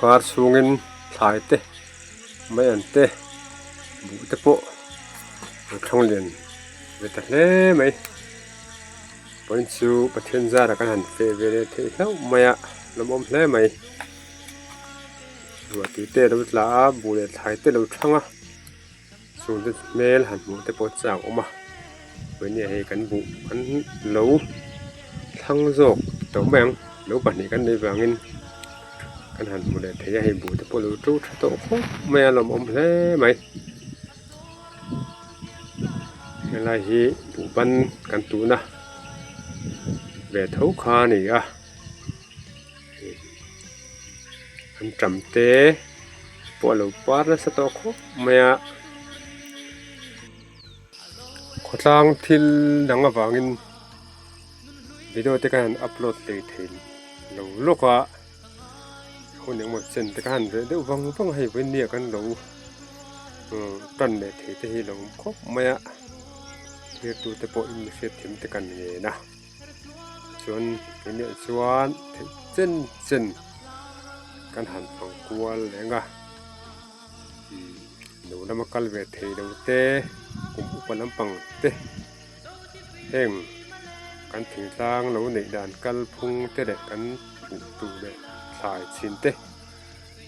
kar chhungin thlai te mai an te buh te pawh an thlawng lian ve ta hle mai pawn chu pathian zar a kan han fe ve leh thei hlauh mai a hlawm awm hle mai ruah tute lo tla a buh leh thlai te lo thlang a. Chu te hmel han hmuh te pawh chiah ang awm a tuihna hei kan buh kan lo thlang zawk tawh mai ang lo pahnih kan nei vangin kan han hmu leh thei a hei buh te pawh lo to tha tawh khawp mai a lawmawm hle mai helai hi buh pan kan tuhna ve tho kha a ni a. an ṭam te pawh a lo par nasa tawh khawp mai a khawtlang thil dang avangin video te khan an upload teh theih lo lawk a hun engemaw chen te khan ve deuh vang vang a hei vawin miah khan lo ṭan leh thei te hi a lo awm khawp mai a thlir tute pawh in mihriat thim te kan ngen a. chuan enge chuan theih chen chen kan han fang kual leng a lo lama kal ve thei lo te kum upa lampang te heng kan thing tlang lo neih dan kalphung te leh kan hmuh tur leh thlai chhin te.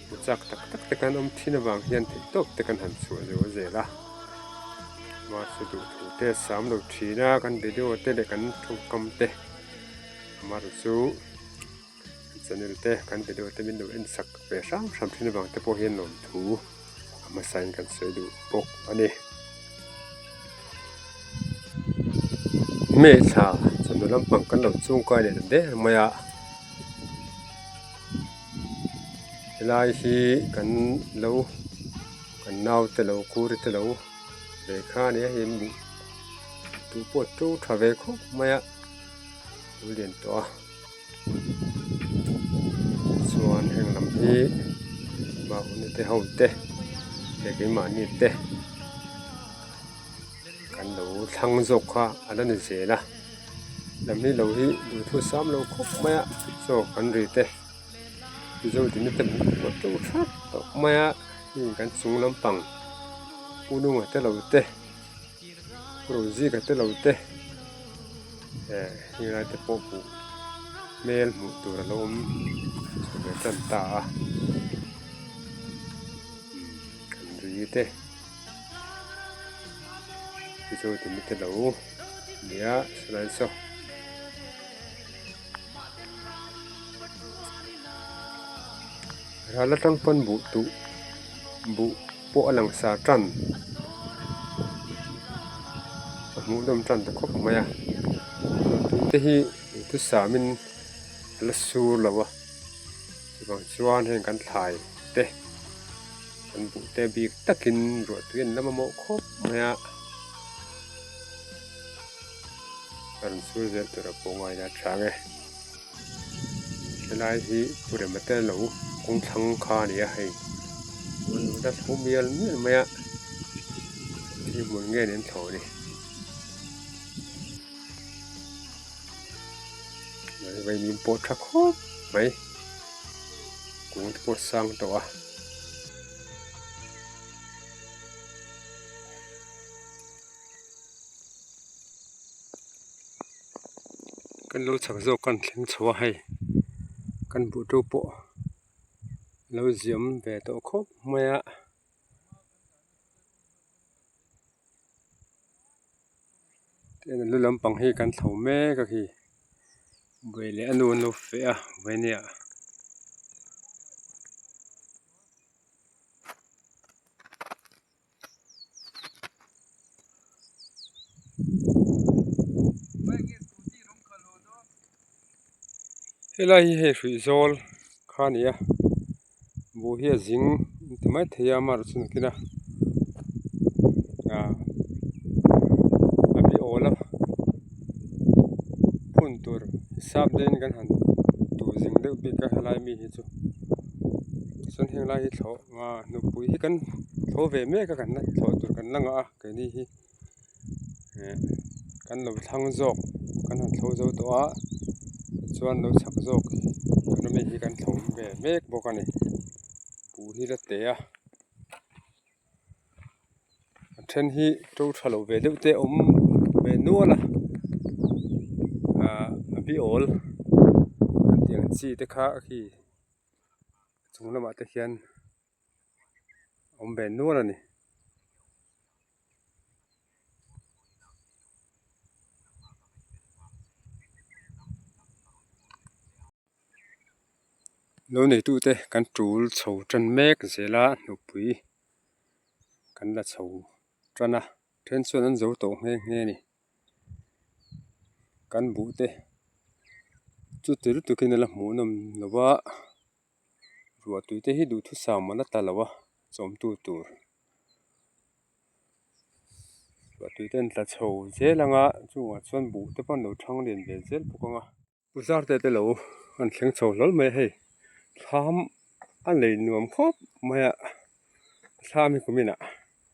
Pu Chak tak tak te kan awm thin avang hian theihtawp te kan han chhuah zo a zel a, mahse duhthuk te a sam lo thin a, kan video te leh kan thawngkam te amaherawhchu chu channel te kan video te min lo en sak ve hram hram thin avang te pawh hian lawmthu a hmasa in kan sawi duh bawk a ni. Hmeichhia chawlh na lampang kan lo chungkai leh ta der mai a. Helai hi kan lo kan naute lo kuri te lo ve kha a ni a hemi hi tu pawh a to tha ve khawp mai a thil lian tawh a tichuan heng lam hi mahni te ho te leh keimahni te. Kan lo thlang zawk kha an rawn inzel a lam hi lo hi duhthusam sam lo khawp mai a chaw kan ri te mizo tihna te hmuh tur tawh thlap tawh mai a heng kan chung lampang pununga te lo te purunzika te lo te eh helai te pawh hmuh hmel hmuh tur a lo awm chawh ve tan ta a kan ri te. Chu chu ti mite lo nia Salai Saw Ralna tang pawn buh tuh buh pawh a lang sa tan a hmuh dawm tan ta khawp mai a buh tuh te hi thu samin a la sur lo a. Tichuan chuan heng kan thlai te kan buh te bik takin ruahtui an lam a mawh khawp mai a. Ka rawn sur zel tur a pawh ngai la a chang e. Helai hi purem ate lo kawng thlang kha a ni a hei. An lo dal ho mial mial mai a. Thil hmun nge an in thlawh a ni. vawimim pawh tha khawp mai kung te pawh sang tawh a kan lo chak zawk kan thleng chho a hei kan buh tu pawh lo ziam ve tawh khawp mai a. tlema lu lampang hi kan tho mek a khi buai leh a nu an lo feh a vawinia helai hi hei hruih zawl kha nia. buh hi a zing a ti mai thei a a marh chu a nihkhen a ahh a beh awl a phun tur sap daini kan han tur zing deuh bik a helai mi hi chu chuan heng lai hi thlawh nghah nupui hi kan thaw ve mek a kan la thlawh tur kan la ngah a keini hi. eh kan lo thlang zawk kan han tho zo tawh a tichuan lo chhak zawk economy hi kan thlawm ve mek bawk a ni buh hi la teh a a then hi to tha lo ve deuh te awm ve nual a ah a biawl an tih ang chi te kha khi a chung lamah te khian-- awm ve nual a ni lo neitu te kan tul chho tan mek zel a nupui kan la chho tan a then chuan an zo tawh nghe nghe a ni kan buh te chu ti lutuk in a la hmuhnawm lo va. ruahtui te hi duhthusam a la ta lo a chawmtu tur ruahtui te an tla chho zel ang a chungah chuan buh te pawh an lo thang lian ve zel bawk ang a pu zarte te lo an thleng chho hlawl mai a hei thlam a lei nuam khawp mai a thlam hi kumin ah--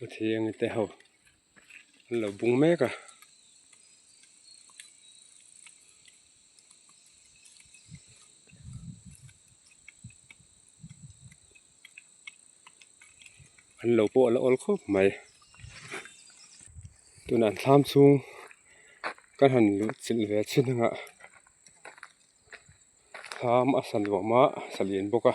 Pathian te ho an lo bung mek a. An lo pawh ala awl khawp mai. Tunah an thlam chhung ka han luhchilh ve chhin anga thlam a saluam a, a saliam bawk a.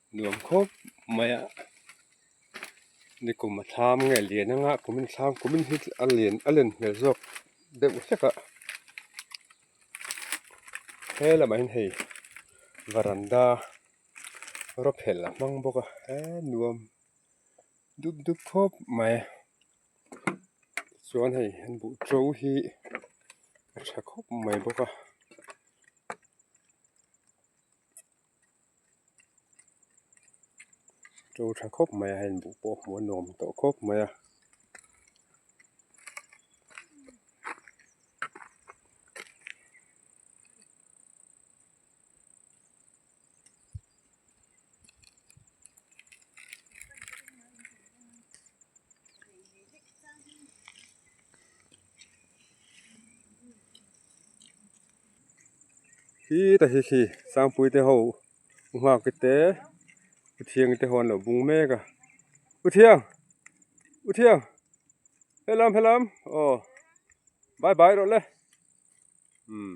Nuam khawp mai a ni kum a thlam nge a lian anga a kumin a thlam kumin hi a lian a len hmel zawk deuh hlek a he lamah hian hei varanda rawphelh a hmang bawk a he nuam dup dup khawp mai tichuan hei an buh to hi a tha khawp mai bawk a. to tha khawp mai a heng duh pawh a hmuh a nuam tawh khawp mai a. Hi ta hi khi sangpuite ho u nghaktu te u thiang te ho an lo bung mek a u thiang u thiang helam helam aw bye bye rawh le umm.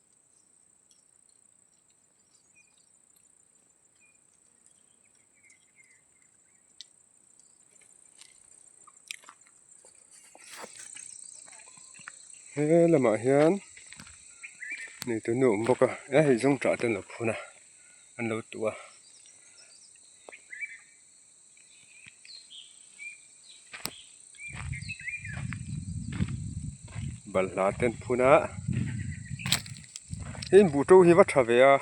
he lamah hian mi te an awm bawk a eng hawzong tah te an lo phun a an lo tuh a. balhla ten phun a hei in buh to hi va tha ve a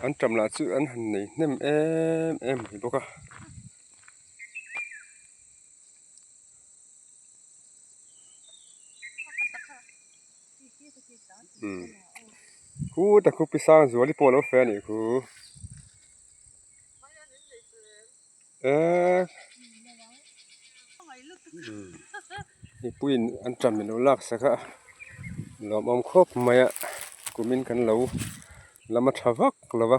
an tam lah chu an han nei hnem em em mai bawk a. Hu ta khup hi sang zuali pawh alo feh anih khuh eeii mipuiin an ṭan ilo laksa kha a nuamawm khawp mai a kumin kan lo lam a ṭha vak lo va.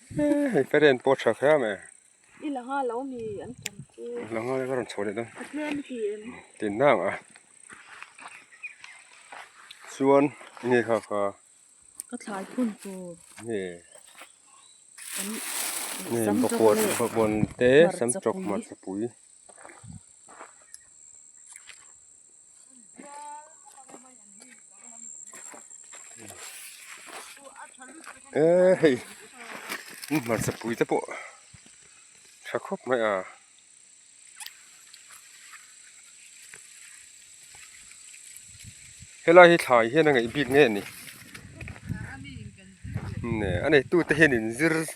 Hei parent pawh a tha khrem e. I la nghal lo mi an tam chu. I la nghal a ka rawn chho leh dawn. A tlem e ti em. Tin nang a. Chuan nge kha kha. Ka thlai phun tur. Nge. Nge bakua te samchawk hmarchapui. eh hei i hmarcha pui te pawh tha khawp mai a. Helai hi thlai hian a ngaih bik ngei a ni, neh a neihtu te hian in zir--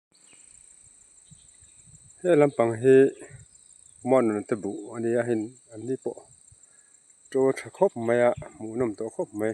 Heng lampang hi humanrawn te buh a nia heng an ni pawh to tha khawp mai a hmuh nawm tawh khawp mai.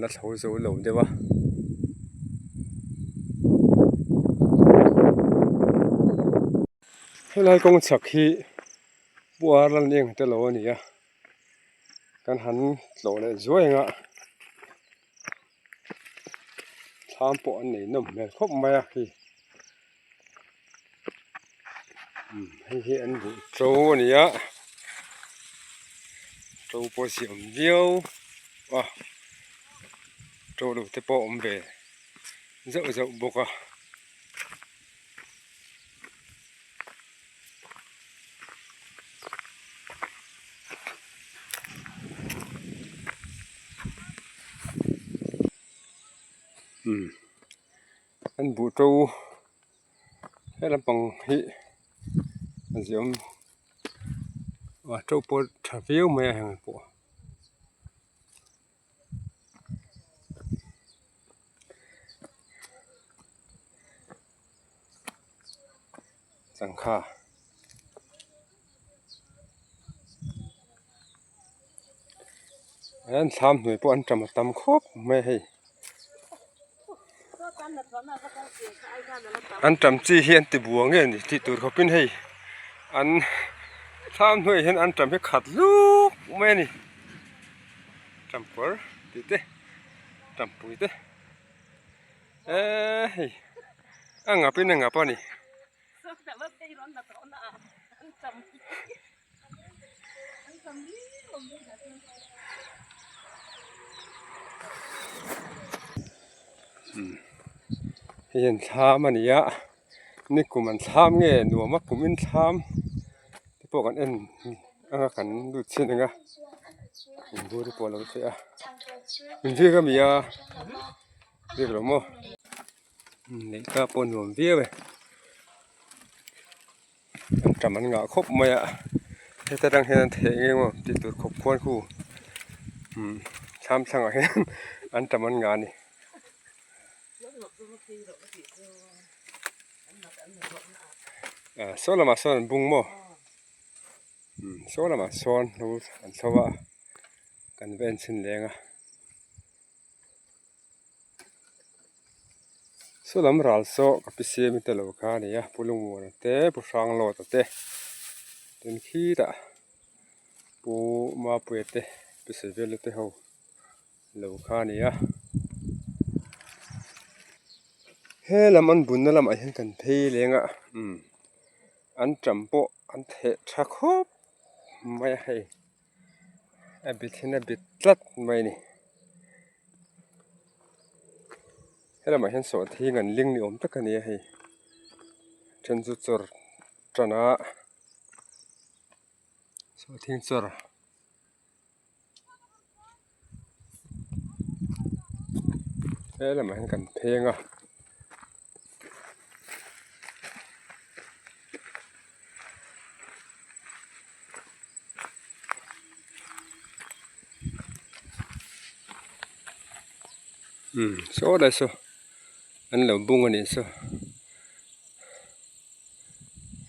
na tho zo lo deuh a. Helai kawng chak hi puar lal ni ang te lo a ni a, kan han tlawh leh zuai ang a thlam pawh an nei nawm hmel khawp mai a khi. hei hi an buh to a ni a to pawh a siam viau a to lo te pawh a awm ve zauh zauh bawk a. Kan buh to he lampang hi ziaawm ah to pawh tha viau mai a heng pawh a. changkha an thlam hnuai pawh an tam a tam khawp mai a hei an tam chi hi an tibua nge ni tih tur khawpin hei an thlam hnuai ah hian an tam hi khat luk mai a ni tam kawr tih te tam pui te. Eee hei a ngap in a ngap a ni hei hian thlam a ni a ni kum an thlam nge nuam a kum in thlam te pawh kan en ang a kan lut chin ang a in zir ka mi a. Dik lo maw? Neih ka pawh nuam viau e. An tam an ngah khawp mai a. Heta tang hian an theh nghe maw tih tur khawp khuan khu. Hmm thlam thlangah hian an tam an ngah a ni. Ah saw lamah sawn an bung maw? Hmm saw lamah sawn an tho a. Kan va en chhin leng a. Saw lam ral saw ka pi semi ta lo kha ni a pu Lungmuala te pu Hranglawta te ten khitah pu Mapuia te pu Sevela te ho lo kha ni a he lam an bunna lamah hian kan phei leng a umm an ṭam pawh an theh ṭha khawp mai a hei. a bit hian a bit tlat mai a ni helam ah hian sawh thleng an ling ni awm tak a ni a hei a then chu chawr tana sawhthing chawr. he lamah hian kan pheng a imm saw lai saw an lo bung a nih saw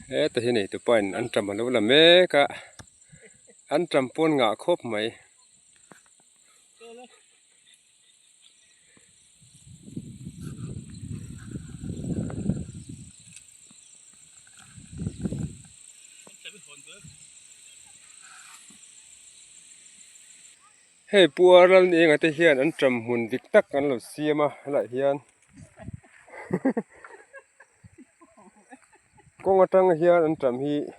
heta hi neitupa in an ṭam alo la mek a an ṭam pawn ngah khawp mai. hei pu a ral ni ang ate hian an ṭam hmun dik tak an lo siam a a lah hian kawng aṭanga hian an ṭam hi--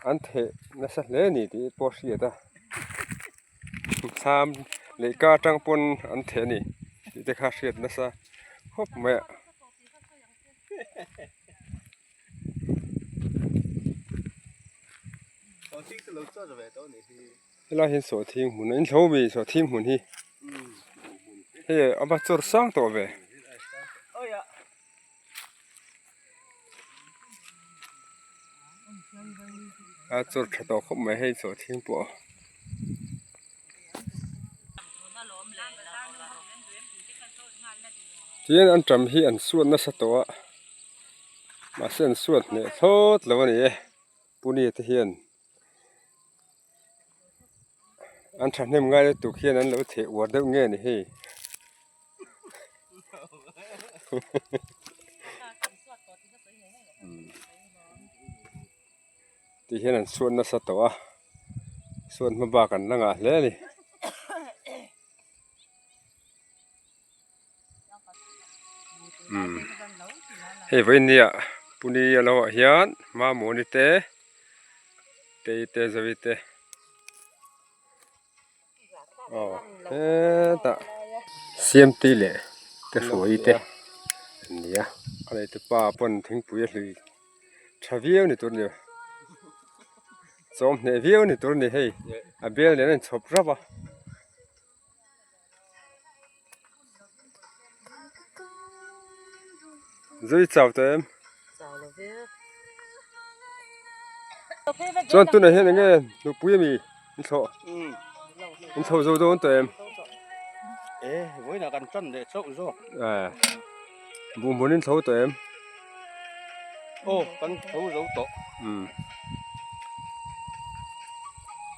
an theh nasa hle a ni tih i pawh a hriat a sam leh ka atang pawn an theh a ni tih te kha a hriat nasa khawp mai a. helai hi sawhthing hmun a ni inhlo mi sawhthing hmun hi hei a va chawr sang tawh ve. a chawr tha tawh khawp mai hei chaw thiang pawh a. Tin an ṭam hi an suat nasa tawh a mahse an suat hmeh thlawt lo a ni e puni te hian. an thahnem ngai lutuk hian an lo theh uar deuh ngei a ni hei tihian an suat nasa tawh a suat hma bak an la ngah hle a ni. umm hei vawinia puni a lo ah hian mamawni te tei te zari te aw hetah siamtui leh te hruai te an ni a a lei tupa pawn thingpui a hlui tha viau ni tur a ni a chawm hneh viau ni tur a ni hei a bel nen a inchhawp rap a. zui chak tawh em chuan tunah hian enge nupui a mi in thlawh in chho zo dawn tawh em bunbun in tho tawh em aw kan tho zo tawh.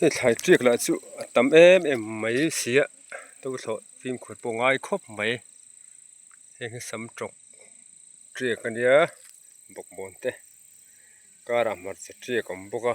Hei thlai chiak lah chu a tam em em mai sia do thlawh fimkhur pawh ngai khawp mai heng hi sam tawk chiak a nia bawkbawn te car ah hmarcha chiak a awm bawk a.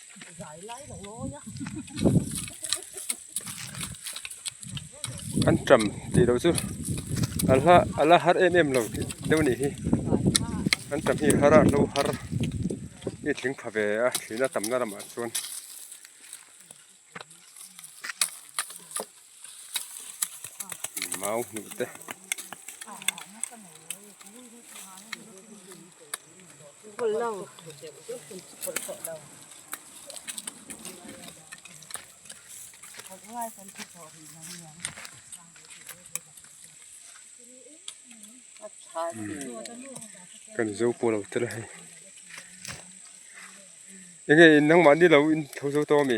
an ṭam tih loh chu a hla a la har em em lo deuh a nih hi an ṭam hi har a hlo har i thing pha ve a thlin a tam na lamah chuan. mau hmuh te kan zo pawh lo tel a hei eng nge nangmahni lo intho zo tawh a mi?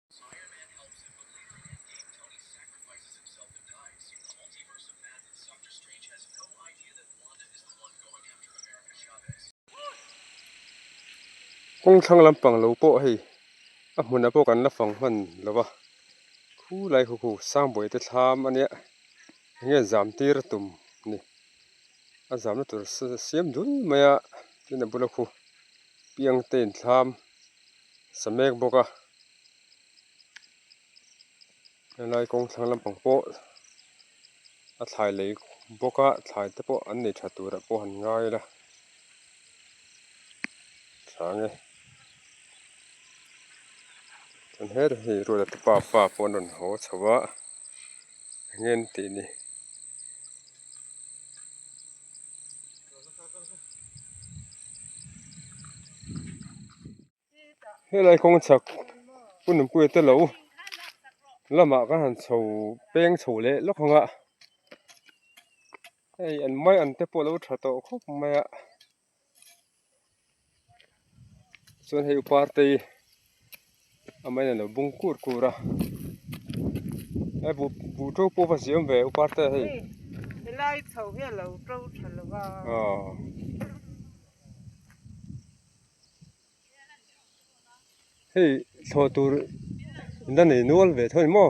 Kawng thlang lampang lo pawh hei a hmun ah pawh kan la fang hman lo va khu lai khu khu sang buai te thlam a nia eng nge zam tir a tum ni a zam na tur siam dul mai a tin a bula khu piang te in thlam. sa mek bawk a helai kawng thlang lampang pawh a thlai lei bawk a thlai te pawh an nei tha tur ah pawh han ngai ila tha nge chuan her hi ruahtah te pa pa pawh an rawn haw chho a enge an tih ni. Helai kawng chak hun an pui telo lamah ka han chho peng chho leh lawk ang a hei an mai an te pawh a lo tha tawh khawp mai a. chuan hei upa te hi a man in a lo bung kur kur a hei buh to pawh va siam ve upa te hi helai chho hi a lo to tha lo va aw hei thlawh tur in a nei nual ve thung maw.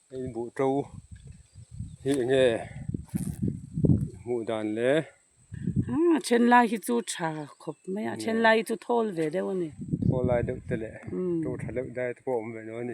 Hei buh to hi eng nge hmuh dan le. Umm a then lai hi chu tha khawp mai a a then lai hi chu thawl ve deuh a ni thawl lai deuh te leh to tha deuh dai te pawh a awm ve lo a ni.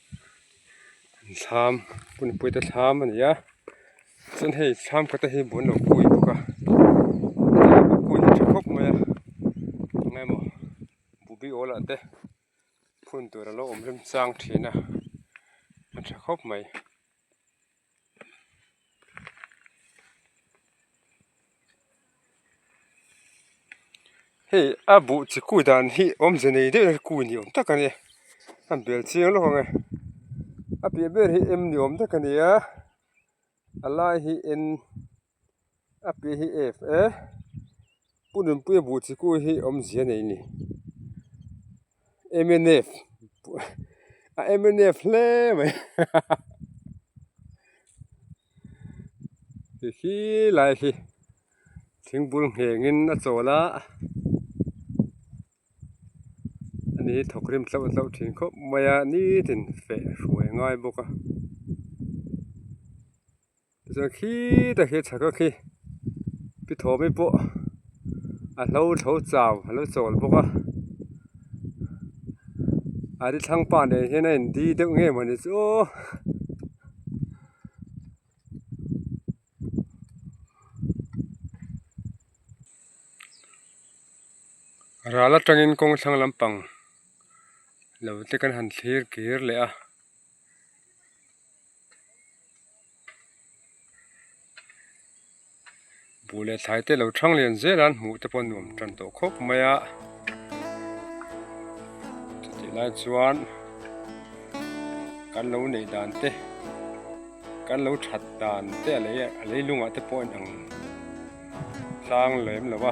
thlam punipuite thlam a ni a chuan hei thlam kawtah hi buh an lo pui bawk a pui hi a tha khawp mai a engai maw buh biawl ah te phun tur a lo awm remchang thin a a tha khawp mai. hei a buh chi kut dan hi awmze nei deuh nat kut ni awm tak a ni a bel chiang lawk anga a piah ber hi em ni awm tak a ni a a lai hi en-- a piah hi ef e pu nunpui a buh thikû hi a awm zia nei ni mnf a mnf hle mai hahaha ti hi lai hi thingbûl nghengin a châwl a ani hi thawk rim hlauh hlauh ṭhin khawp mai a nithin feh hruai ngai bawk a. Zan khi tak hi a tha khawk hi pi thawmi pawh a hlo tho chau a lo chawl bawk a a ni thlang pa nen hian a in di deuh ngei mawni ni chu aw. Ral atangin kawng thlang lampang lo te kan han thlir kir leh a. buh leh thlai te lo thang lian zel an hmuh te pawh a nuam tan tawh khawp mai a chutih lai chuan kan lo nei dan te kan lo that dan te a lei a a leilungah te pawh a inang tlang lem lo va.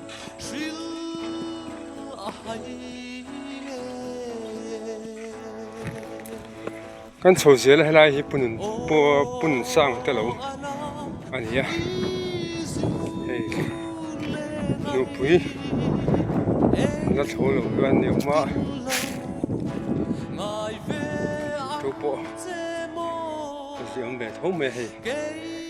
Thil a hai le Kan chho zel a helai hi punun punun sang te lo ania hei nupui la thlo lo hian ni awm a tu pawh ka ziah awm ve tho mai hei.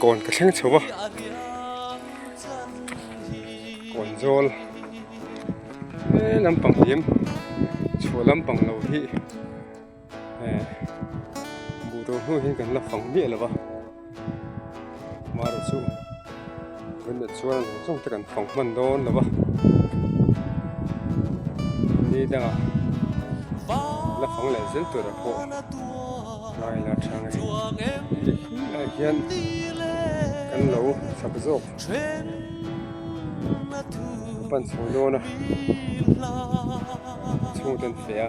Kawn ka thleng chho va, kawn zawl he lampang hi em chhuah lampang lo hi buh tur hnu hi kan la fang miah lo va. Mahra chu vawiin a chuang zawng zawng te kan fawng hman dawn lo va, ni dangah la fawng leh zel turah pawh tlai la thang ri ri khilaiah hian kan lo chhak zawk a pan chho dawn a, a chhungte an feh a.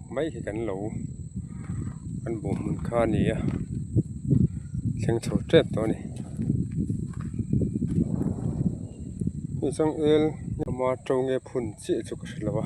mai hi kan lo kan bawh hmun kha a ni a thleng chho tep tawh a ni hei chuan el hlama to nge phun chiah chu ka hre lo a.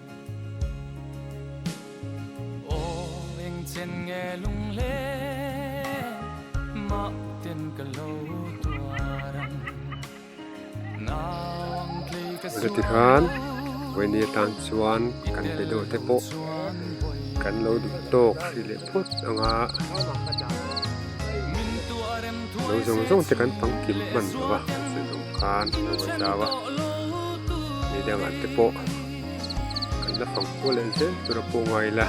Aw eng chen nge lung le mah ten ka lo tuar ang Nau ang tlei ka sual lo Chuti khan vawinia atan chuan kan be deuh te pawh kan lo duh tawk hrih leh phawt ang a, lo zawng zawng te kan pang kim hman lo a, chu zawng khan a lo zau a, midang an te pawh. Kan la fang khua leh zel tur a pawh nga ila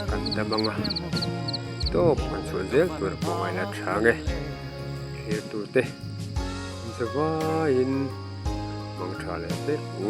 kan dam anga tawp kan chhuah zel tur a pawh nga ila tha nge thlir turte insa vaiin hmang tha leh hlek u